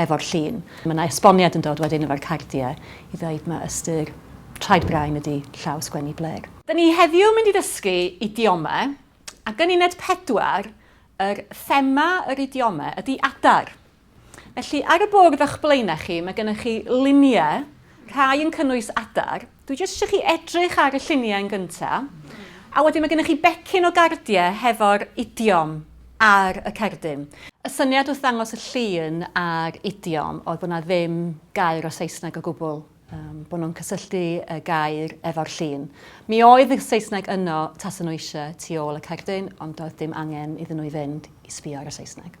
efo'r llun. Mae 'na esboniad yn dod wedyn efo'r cardiau i ddeud ma' ystyr traed brain ydi llaw sgwennu blêr. Da ni heddiw mynd i ddysgu idiome, ac yn uned pedwar, yr thema yr idiome ydi adar. Felly, ar y bwrdd o'ch blaenau chi, mae gennych chi luniau, rhai yn cynnwys adar, Dwi jyst isio chi edrych ar y lluniau yn gynta', a wedyn ma' gynnoch chi becyn o gardiau hefo'r idiom ar y cerdyn. Y syniad wrth ddangos y llun a'r idiom oedd bod 'na ddim gair o Saesneg o gwbl, yym, bod nhw'n cysylltu y gair efo'r llun. Mi oedd y Saesneg yno tasen nhw eisiau tu ôl y cerdyn, ond doedd dim angen iddyn nhw i fynd i sbio ar y Saesneg.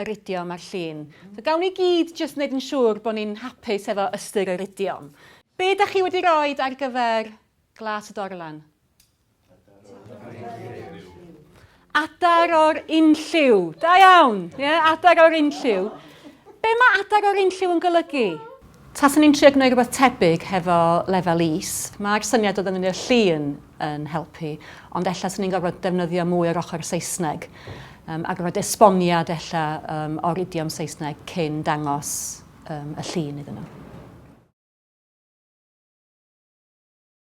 yr idiom a'r llun. So gawn ni gyd jyst wneud yn siŵr bod ni'n hapus efo ystyr yr idiom. Be dach chi wedi roed ar gyfer Glas y Dorlan? Adar o'r unlliw. Da iawn! Ie, adar o'r unlliw. Be mae adar o'r unlliw yn golygu? Taswn i'n trio gwneud rhywbeth tebyg hefo lefel is. Mae'r syniad o ddefnyddio'r llun yn helpu, ond ella 'swn i'n gorfod defnyddio mwy o'r ochr Saesneg, a gorfod esboniad ella o'r idiom Saesneg cyn dangos y llun iddyn nhw.